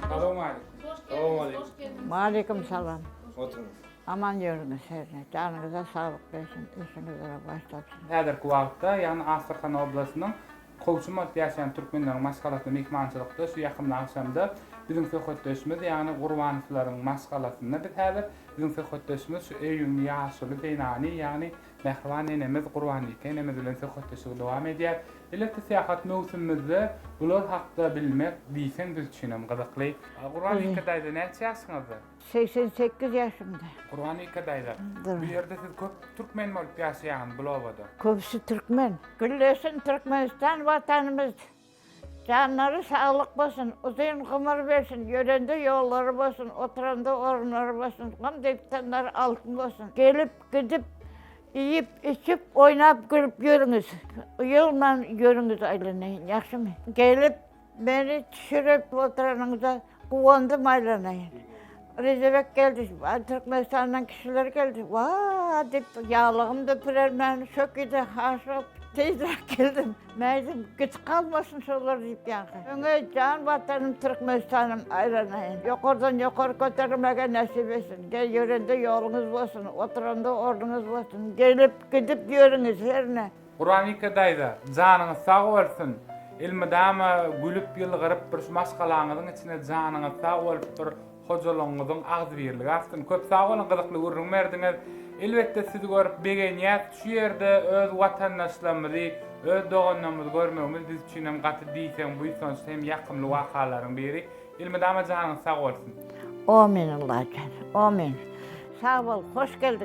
Salam aleýkum. Salam aleýkum. Waleýkim salam. Oturyň. Aman ýöriňiz hernä. Janyňyza saglyk bersin, işiňizde baş tapsyn. Häzirki wagtda, ýagny Astrahan oblastynyň Kowçum bolup ýaşaýan türkmenleriň maşgalasy myhmançylykda şu ýakymly agşamda biziň söhbetdeşimiz, ýagny Gurbanowlaryň maşgalasynda biz häzir. Biziň söhbetdeşimiz şu öýüň ýaşuly zenany, ýagny Mähriban nenemiz Gurbanbike enemiz bilen söhbetdeşligi dowam edýär. Beletde syýahat möwsümimizde bular hakda bilmek diýseň biz üçinem gyzykly. Gurbanbike daýza näçe ýaşyňyzda? Segsen sekiz ýaşymda. Gurbanbike daýza, bu ýerde siz köp türkmen bolup ýaşaýaňyz bul obada? Köpüsi türkmen. Güllesin Türkmenistan watanymyz. Janlary saglyk bolsun, uzyn gymyr bersin, ýörende ýollary bolsun, oturanda orunlary bolsun, gam destanlary altyn bolsun. Gelip, gidip, iýip, içip, oýnap, gülüp ýörüňiz. Uýalman ýörüňiz aýlanaýyn, ýagşymy? Gelip, meni çişirip oturanyňyza. Guwandym aýlanaýyn. Rejebek geldi, Türkmenistandan kişiler geldi. Wah! diýip, ýaglygym da pirermän, şökide haşyp, tizräk geldim. Mäzim, gitip galmasyn şolar diýip ýaňky. Öňe jan Watanym Türkmenistanym aýlanaýyn. Ýokardan ýokary göterilmäge nesip etsin. Gel ýörende ýoluňyz bolsun, oturanda ornuňyz bolsun. Gelip, gidip ýörüňiz herne. Guranike daýza, janyňyz sag bolsun! Elmydama gülüp ýylgyryp bir şu maşgalaňyzyň içine janyňyz sag bolup bir hojalygyňyzyň agzybirligi artsyn! Köp sag boluň gyzykly gürrüň berdiňiz! Elbetde sizi görüp begenýäs, şu ýerde öz watandaşlarymyzy, öz doganlarymyzy görmegimiz biz üçin hem gaty diýseň buýsançly hem ýakymly wakalaryň biri. Elmydama janyňyz sag bolsun! Omyn Allajan, omyn! Sag bol, hoş geldiň!